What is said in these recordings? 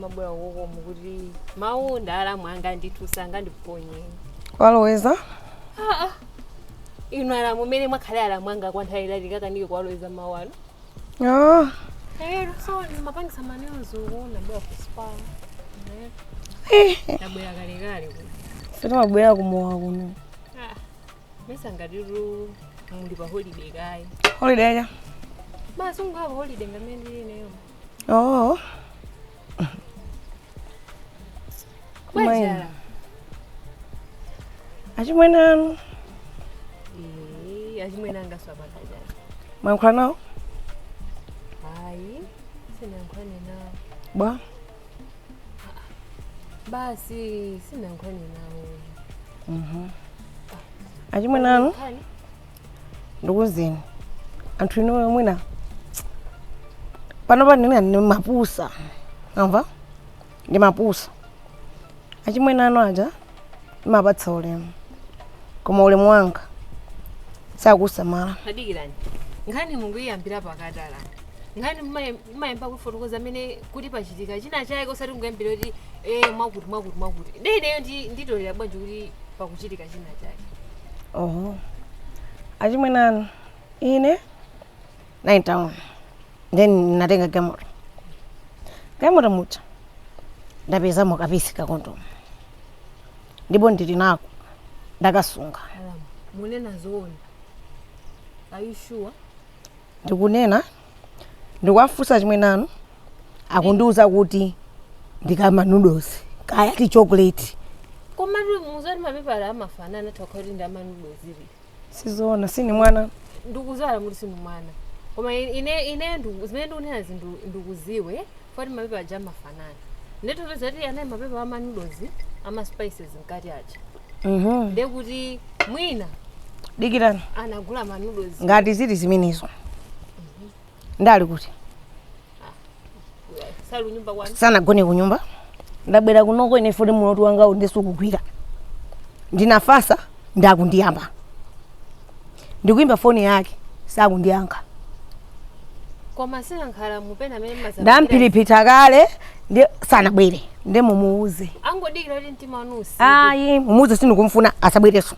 Mwabwera koma mukuti mawu nda alamu anga ndithu sangandiponye kuwaloweza aa inu alamu umene mwakhalira alamu anga kwa nthawi yaitali ndikakanike kuwaloweza mawu anu Ah, Hello so ndimapangisa maneozo kuona bwera kuspa eh, ndabwera kalekale kuti tata timabwera kumowa kuno Ah, mesa ngati tu tili pa holiday kaye holiday ya basi ungaba holiday ndi amene ndili nayo oh Kumayi. paja achimwene anu Eh, achimwene anga aa paja mwayankhula nawo hayi sinayankhulane nawo bwa basi sinalankhule nawo Mhm. achimwene anu ndikuuzeni anthu inu mwina pano ine sindimapusa wamva sindimapusa achimwene anu aja ndimapatsa ulemu koma ulemu wanga sakusamala tadikirani nkhani mukuyiyambira pakati alamu nkhani mumaye- mumayamba kufotokoza amene kuti pachitika china chake osati mukuyambira kuti e mwakuti mwakuti mwakuti de ineyo ndi- nditolera bwanji kuti pakuchitika china chake oho achimwene anu ine 9 then ndinatenga galimoto galimoto muja ndapezamo ka piece ka kondomu ndipo ndili nako ndakasunga Alamu, munena zoona. Are you sure? ndikunena ndikuwafunsa achimwene anu akundiuza kuti ndi ka ma noodles kaya ti chocolate Koma mudziwa zoti mapepala amafanana tokoti ndi a ma noodles. sizoona sindi mwana Ndikudziwa alamu kuti sindinu mwana koma i- ine ine ndu- zimene ndikunena zi ndu- ndikudziwa kuti mapepala aja amafanana ndithu pezani eti mapepala a ma noodles a ma spices mkati aja Mhm. nde kuti mwina dikirani anagula ma noodles ngati zili zimenezo nde ali kuti Sali kunyumba kwanu? sanagone kunyumba ndabwera kunoko ine poti mutu wanga sundigwira ndinafasa nde akundiyamba ndikuimba foni yake sakundiyankha Koma sinankhala mupena amene maza. ndampitikitsa kale nde asabwere nde mumuuze Angodikira kuti mtima wanu utsike. ayi mumuuze sindikumfuna asabwereso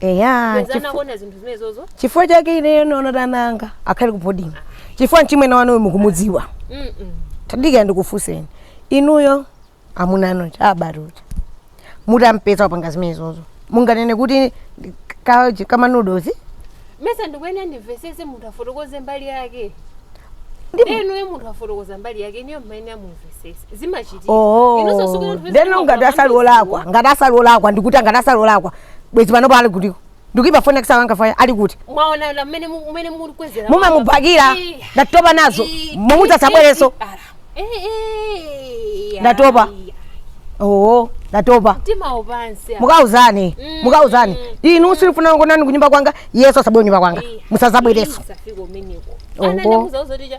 Eya, Mwina nzi chifu- anakuona zinthu zimenezozo. chifukwa chake ineyo ndaona kuti ana anga akhale ku boarding chifukwa mchimwene wanuyo mukumudziwa Mm, mm. tadikira ndikufunseni inuyo amuna anu kuti muti mumpeza wapanga zimenezozo munganene kuti ndi- ka- ka ma noodles Mesa ndikuyenera ndimvesese munthu afotokoze mbali yake. Ndi- Inuyo munthu akufotokoza mbali yake, inuyo mmayenera mumve. zimachitika Oh. inonso sikuti anthu then ena ngati asali amadziwa. olakwa ngati asali olakwa ndikuti ngati asali olakwa bwezi panopo ali kutiko ndikuipa foni yakisala angafaya ali kuti mwaona la mmene mu- mmene mulikwezera mumamubhakira Eh, ndatopa nazo eh, mumuuze asabwereso eh, eh, eh, Ndatopa. ayi, ayi. oo ndatopa mtima upansi mukauzane Mm. mukauzane inu sindifuna kuonani kunyumba kwanga yesu asabwere kunyumba kwanga musazabwereso musafika umeneko Oh. anandimuza uzoticha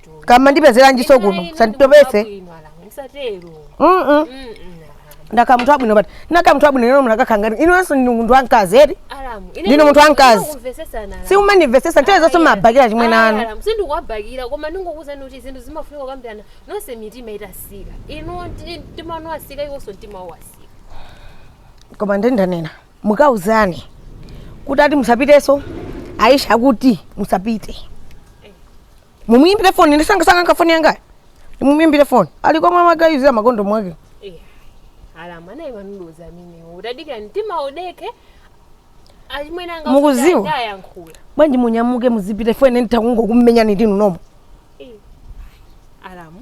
kama ndipezeranjiso kuno sanditopese Mm-mm. ndakhala munthu wabwino but ndakhala munthu wabwino ino munakakangani inunso ndinu munthu wamkazi eti Ndine munthu wamkazi. simumandimvesesa nthawi zonse mumabhakira achimwene anu sindikuwabhakira koma ndingokuuzani kuti zinthu zimafunika kukambirana nonse mitima itasika inu ndi- mtima wanu wasika iwonso mtima wawo wasika koma nde ndanena mukauzane kuti ati musapitenso aisha kuti musapite mumuimbire foni ine msangamsanga nkafoni yangayo mumuimbire foni ali komwe magayizira makondomu ake alamu naye manudoza amenewo utadikira mtima udeke achimwene anga Mukuziwa? kuti amayankhula bwanji munyamuke muzipite foni ine nditakungokumenyani ndinu nomo alamu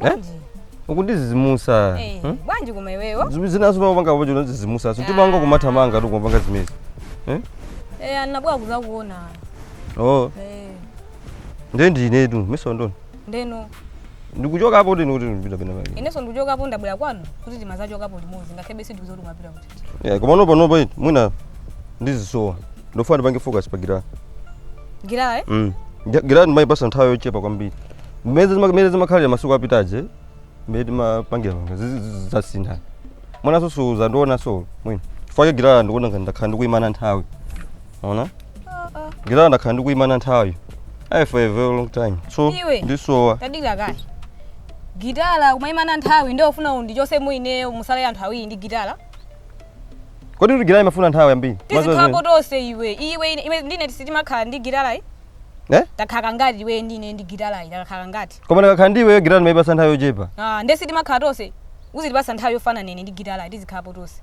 Eh? Bwanji? ukundizizimusa Eh, hmm? bwanji koma iweyo Zim- zinaso umapanga pacho umandizizimusaso mtima wanga kumathamangatu kumapanga zimenezi eh? Eh, anabwera kuzakuona oh Eh, ndiye ndinetu miso ndoni ndeno ndikuchoka apo ndini kuti ndipita pena pake inenso ndikuchokapo ndabwera kwanu kuti timazachokapo limodzi ngakhale bese ndikuuza kuti kumapita kuti Yeah, komano panopa eti mwina ndizisowa ndifuna ndipange focus pa gitara Gitara eh? mm. Gi- gitara ndimayipasa nthawi yochepa kwambiri mmene zima- mmene zimakhalira masiku apitaje mmene timapangira panga zasintha mwinanso suzandionanso mwina fukwa gitara ndikuona ngati ndakhala ndikuyimana nthawi ona Gitala ndakhala ndikuyimana nthawi. Ayi for a very long time. So Iwe. ndisowa. tadikira kaye gitala ukumayimana nthawi nde ufuna undichosemo ineyo musale anthu awiri ndi gitala Kodi kuti gitala imafuna nthawi yambiri? tizikhalapo tonse iwe iwe ine- iwe ndi ine sitimakhala ndi gitalayi Eh? takhala kangati iwe ndi ine ndi gitalayi takhala kangati Koma ndikakhala ndiwe gitala ndimayipasa nthawi yochepa. Ah, nde sitimakhala tonse uzitipasa nthawi yofanana ine ndi gitalayi tizikhalapo tonse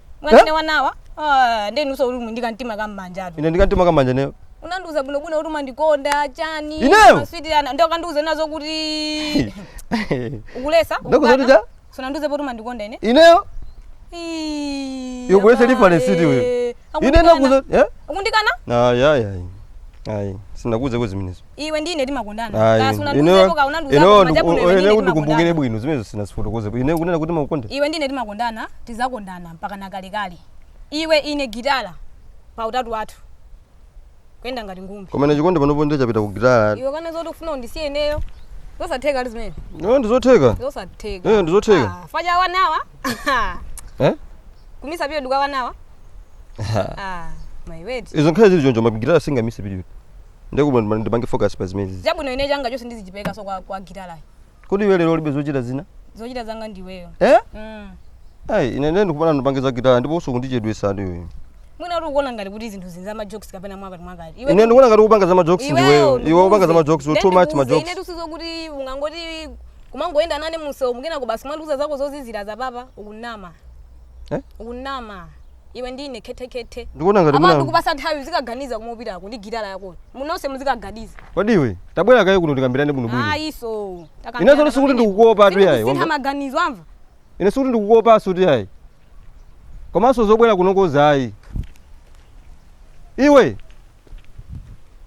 amwene wanawa Ah, ndi inuso uli mu- ndi kamtima ka m'manjatu ine ndi kamtima ka m'manja ineyo unandiuza bwinobwino kuti umandikonda chani Ineyo? maswiti ana ndi ukandiuza nazo kuti ukulesa Ndakuuza kuti cha? sunandiuze poti umandikonda ine ineyo Ii, Iwe kulesa abale. reference iti wewe? Akundikana. ine nakuuza eh? akundikana ayayay ayi sinakuuzeko zimenezo iwe ndi ine timakondana Ayi, kaya sunandiuzepo ineyo- kaya unandiuzapo ineyo koma ndiku- chabwino iwe ndi ineyo ine kuti ndikumbukire timakondana bwino zimenezo sinazifotokozepo ine kunena kuti makukonda iwe ndi ine timakondana tizakondana mpaka nakalekale iwe ine gitala pa utatu wathu kuyenda ngati ngumbi koma ine chikondi panopo ndiye chapita ku gitala iwe kana zoti ufuna undisiye ineyo zosatheka ayi zimenezo ndizotheka zosatheka Eh, ndizotheka. Ah, faja wanawa eh kumisa pio duka wanawa ah my word izo nkhale zili choncho ma gitala singamise piriyodi Ndiye kubwino ndima- ndipange focus pa zimenezi. Chabwino ine changa chonse ndizichiperekaso kwa kwa gitarayi. Kodi iwe lero ulibe zochita zina? Zochita zanga ndi iweyo. Eh? Mm. Ai, ine ndiye ndikufuna ndipange za gitara ndipo ukundichedwetsa ndi iwe. Mwina uli ukuona ngati kuti zinthu zinza ma jokes kapena mwakati mwakati. Iwe Ine ndikuona ngati ukupanga za ma jokes ndi iweyo. Iwe ukupanga za ma jokes, you too much ma jokes. Ine tusizo kuti ungangoti kumangoyenda nane mumsewu mukina kubasi kumandiuza zako zozizira za apa ukunama. Eh? Ukunama. iwe ndi ine khethekhethe Ndikuona ngati ndikupatsa nthawi uzikaganiza komwe ukupitako ndi gitala yakoyo munonse muzikaganiza Kodi iwe tabwera kaye kuno tikambirane bwino bwino. ayiso Inenso sikuti ndikukuopa tu yayi. sintha maganizo wamva Ine sikuti ndikukuopanso tu yayi. Komanso zobwera kuno kozayi. Iwe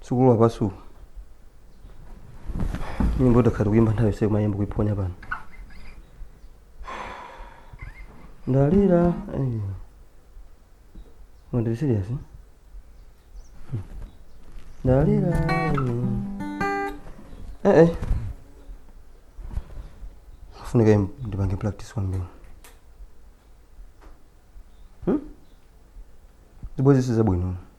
sukulu wapasuku nyimbo ndakhala ndikuyimba nthawi yonse kumayimba kuiphonya pano ndalira ndiri serious eh? Hmm. ndalira eh, eh. afunika im- ndipange practice kwambiri hmm? zibwezi sizabwino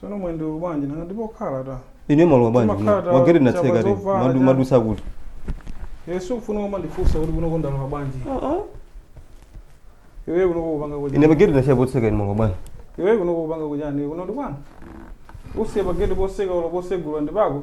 Sono mwendo ulu bwanji nanga ndipo khala ta. Ine malo bwanji. Timakhala ta- Wageti na chapa tseka re. zovala Madu cha- mwadutsa kuti. sukufuna koma ndifunsa kuti kuno konda kwa bwanji. Iwe kuno kupanga kwa. Ine bageti na chapa tseka ine malo bwanji. Iwe kuno kupanga kwa jani kuno ndi bwana. usiye pageti potseka ulo posegula ndi pako.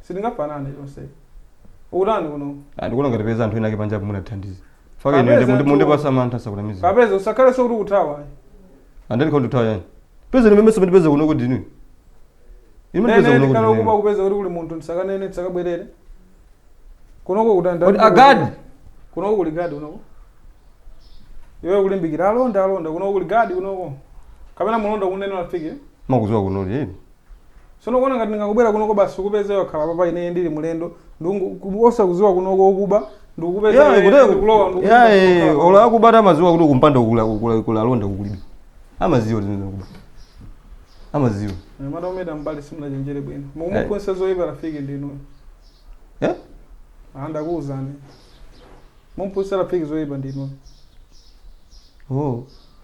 Sitingafanane chonse. Ukutani kuno? Ah, ndikuona ngati peza anthu ena ake panja munathandiza. Faka ine Kapeza ndi tu- mundipatsa mantha sakunamiza. Kapeza usakhale sikuti ukuthawa. Andani kwa ndutawa yani. Peza ni memeso mwandipeza kuno kuti ni. Ime Nene peza kuno ndikhala kuti. ukuba ni. kupeza kuti kuli munthu ndisakanene ndisakabwerere. Kunoko kutani? Kodi agadi? Kunoko kuli gadi kunoko. Iwe kulimbikira alonda alonda kunoko kuli gadi kunoko. Kapena mulonda kunene unafike. mumakudziwa kuno ni. Sono ukuona ngati ndingangobwera kunoko basi ukupeza iwe wakhala papa ine ndili mlendo ndungu ku- osakuziwa kunoko okuba ndikukupeza Yeah, iwe kutero- ndikulowa ndikupeza yeah, iwe eh, wakhala olo papa. akubatu amaziwa kuti kumpanda kukula- kukula- kuli alonda kapena kulibe amaziwa kuti ndikuba amaziwa Eh, mwana umenetu mbali sanachenjere bwino mukumuphunzitsa zoyipa rafiki ndinu Eh? Ah, ndakuwuzani mumphunzitsa rafiki zoyipa ndinu oh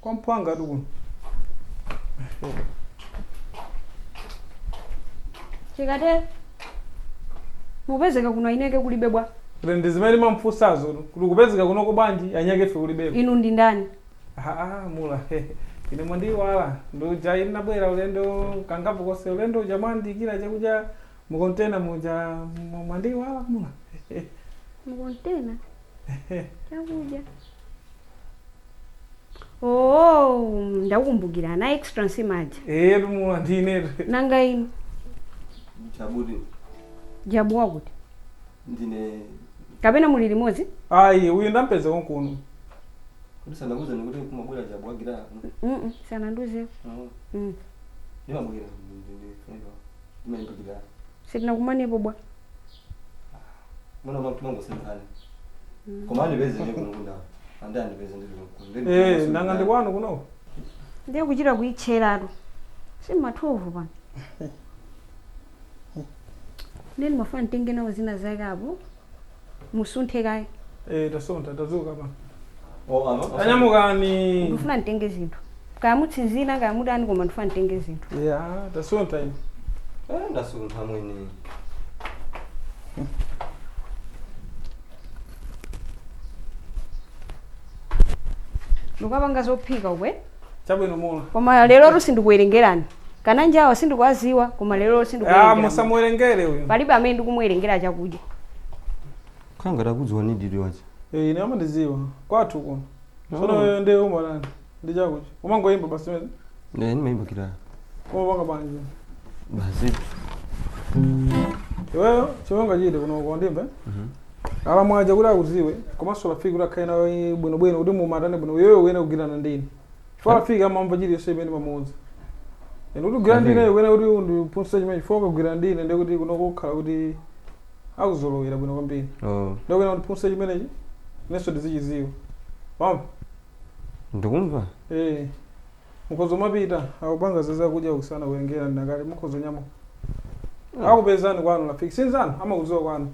kwa mphwanga tu kuno chikate mupezeka kuno anyake kulibe bwanji kuti ndi zimene mamfunsazo kuti mukupezeka kunoko bwanji anyakefe kulibe inu ndi ndani aa mula inu mwandiwala ndi uja ndinabwera ulendo kangapo konse ulendo uja mwandiikira chakudya mukontena muja mwa- mwandiwala mula mukuntena chakudya oh ndakumbukira ana extra nsima ija Eh, tumula ndine. nanga inu chabe chabwa kuti ndine kapena muli limodzi Ayi, uyu ndampeza konkuno. kuti sanandiuze ndikuti kumabwera chabu wagira Mm-mm, sanandiuzeko Mm. ndimabwera ndine friend wa ndimayimbikira sitinakumanepo bwa Mwana mwa mtumango sunthani. Koma andipeze ndi kuno kundako. Andi andipeze ndi kuno kuno. Ndi Eh, kuno nanga ndi kuno. kwanu kuno? Ndiye kuchita kuitcheratu. Si ma 12 pano. Ndiye ndimafuna nditenge nawo zina zake apo. Musunthe kaye. Eh, tasuntha tadzuka pano. Oh, ama- ama- anyamukani ndifuna nditenge zinthu kaya mutsinzina kaya mutani koma ndifuna nditenge zinthu ya tasuntha ine Eh, ndasuntha mwini ndikapanga zophika ukwe chabwino mula koma lero tu sindikuwerengerani kana anjawo sindikuwaziwa koma lero tu ya sindikuwerengerani musamuwerengere uyu palibe amene ndikumuwerengera chakudya Khala ngati akudziwani ndi lyonse. Eh ine amandiziwa kwathu kuno tsono Oh. iwe nde umatani ndi chakuchi umangoyimba basi mene Ne ndimayimba gitala. umapanga bwanji iwe? Basi. iweyo chomwe ungachite kuno ko ndi mbee Mhm. alamu aja kuti akuziwe komanso lafiki kuti akhale nawe bwinobwino kuti muzimvana bwino iweyo uyene kugwirana ndi ine chifukwa lafiki amamva chilichonse imene timapanga pamodzi ende kuti kugwira ndine Amazing. uyenera kuti undiphunzitse chimene chifukwa ukagwira ndine ndiye kuti kunoko kukhala kuti akuzolowera bwino kwambiri Oh, ndiye uyenera undiphunzitse chimenechi inenso ndizichidziwa wamva ndikumva Eh, mukhoza umapita akupanga za zakudya kuno sanakuwerengere ndinakale mukhoza umanyamuka akupezani kwanu lafiki si nzanu amakudziwa kwanu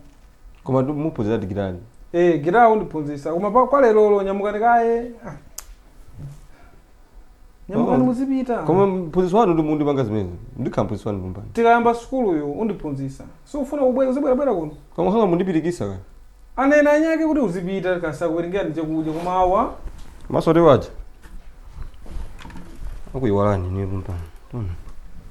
koma tu- muphunzira ati gitala Eh, gitala undiphunzitsa koma pa- kwa lerolo nyamukani kaye Ah. nyamukani Oh. muzipita koma mphunzitsi wanu ndiye mundipanga zimenezi ndikhala mphunzitsi wanu kumbani tikayamba sukuluyo undiphunzitsa sufuna kubwera uzibwerabwera kuno koma nanga mundipirikitsa ka anena anyake kuti uzipita kasakuwerengera ndi chakudya koma awa masowati waja akuyiwalani ni kumbani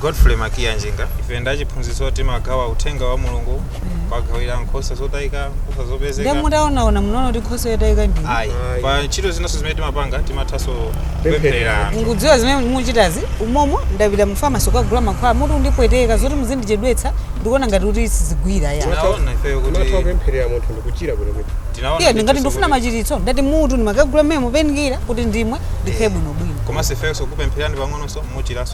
Godfrey Makiya Njinga. Ife ndi achiphunzitso timagawa uthenga wa Mulungu kugawira nkhosa zotayika, nkhosa Ndiye zopezeka. mutaonaona munaona kuti nkhosa yotayika ndi. Ayi. Ayi. Pa ntchito zinanso zimene timapanga timathanso kupempherera anthu. Mukudziwa zimene muchitazi umomo ndapita mu pharmacy kukagula mankhwala mutu ukundipweteka zoti muzindichedwetsa ndikuona ngati kuti sizigwira ya. Tinaona ifeyo kuti- Timatha kupempherera munthu ndikuchira bwino bwino. Tinaona Iye ndithu ndingati ndifuna sikuti- machiritso ndati mutu ndimakagula mmene mupenikira kuti ndimwe ndikhale bwinobwino. Komanso ifeyo sikupemphererani pang'ononso muchiranso.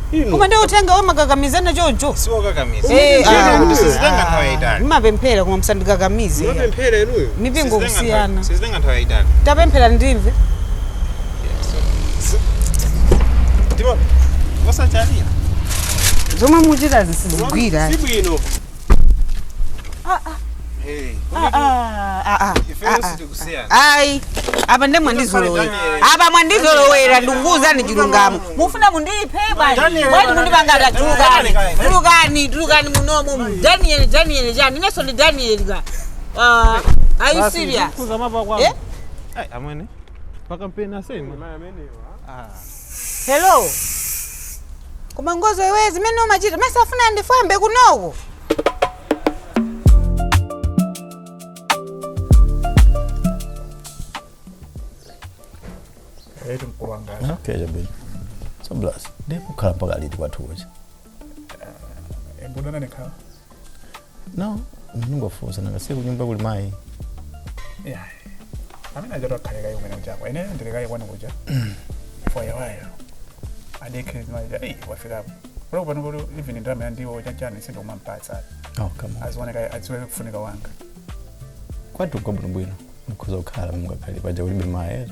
Inu. koma ndi uthenga womakakamizana choncho siwokakamiza Umene Eh, ntchito ah, kuti sizitenga nthawi yayitali mmapemphera koma msandikakamize Mapemphera inuyo. mipingo Sizitenga nthawi- kusiyana sizitenga nthawi yayitali tapemphera ndimve ndipo osachalira zomwe muchitazi sizigwira sibwino ayi apa nde mwandizolowera apa mwandizolowera ndikukuwuzani chilungamo mufuna mundiphe bwanji Daniel, bwanji mundipanga tulukani Daniel. tulukani tulukani munomu daniel daniel chani inenso ndi daniel ka Ah, are you serious kuza mava Eh? kwanu amwene pakampeni asema Hello. Koma Ngozo iwe zimene umachita mukufuna ndifwambe kunoko. Eetu mkulu wanga. Okay, jabili. So bless. Ndipo ukhala mpaka liti kwathu kucha. Embudana nekhala. no ndingofunsa nanga si kunyumba kuli mayi yeah amene aja takhaleka kayo umene uchako ene ndili kayo kwani kuja for a while adekhe zimaja eyi wafikapo kulo pano kuti even ndalama ya ndiwo chachani sindomampatsa oh come on azione kaye adziwe kufunika wanga kwathu ka bwinobwino mukhoza kukhala mungakhale paja kulibe mayi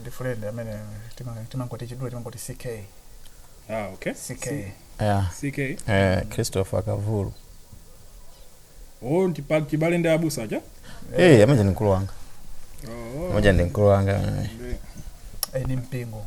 ndi friend amene tima- timangoti chidule timangoti ck ah okay ck yeah. ck eh, christopher kavulu oh ndi pa chibale ndi abusa aja hey, amuja ndi mkulu wanga oh amuja ndi mkulu wanga eh. ndi- eh, ni mpingo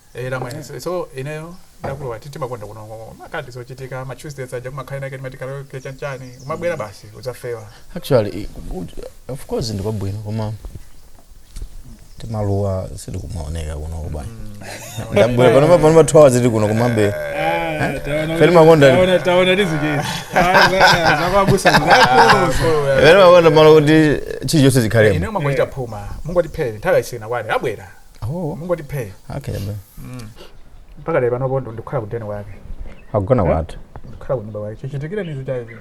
Eh, la mwene. So, so ineyo ndakulowa timakonda kuno ngoko. Makati zochitika ma Tuesdays aja kuma kaina kati matikalo ke chanichani. Umabwera basi udzafewa. actually i- u- of course ndiko bwino koma timaluwa sili kumaoneka kuno kubana ndabwera panopa panopa 2 hours tili kuno kumabe Feli Makonda. taona tizikezi zakwabusa pene makonda malo kuti chilichonse chikhale Ineyo mwangochita phuma. Mungwati phele nthawi yasina kwani abwera. Oh, mungoti phee okay. bro. mpaka lero panopo ndo ndikukhala ku deni wake Akugona kwathu. ndikukhala ku nyumba wake chichitikire nizi cha izi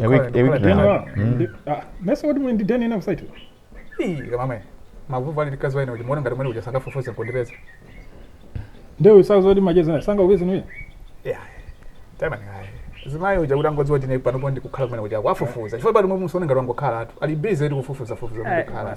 A week- a week Deni now. wa- ndi- ah, mesa kuti muli ndi deni ina kusaitu kamamwe mavuvu ali ndi mkazi wa ine ukumuona ngati mwene uja sangafufuze nkundipeza ndiwe usamuuze kuti macheza naye sangakupeze iwe Yeah. Tamani hayi. Zimayi uja kuti angodziwa tine panopo ndikukhala kumene uja kwafufuza. Chifukwa panomwe musione ngati wangokhala atu. Ali busy ndi kufufuza fufuza ndi kukhala.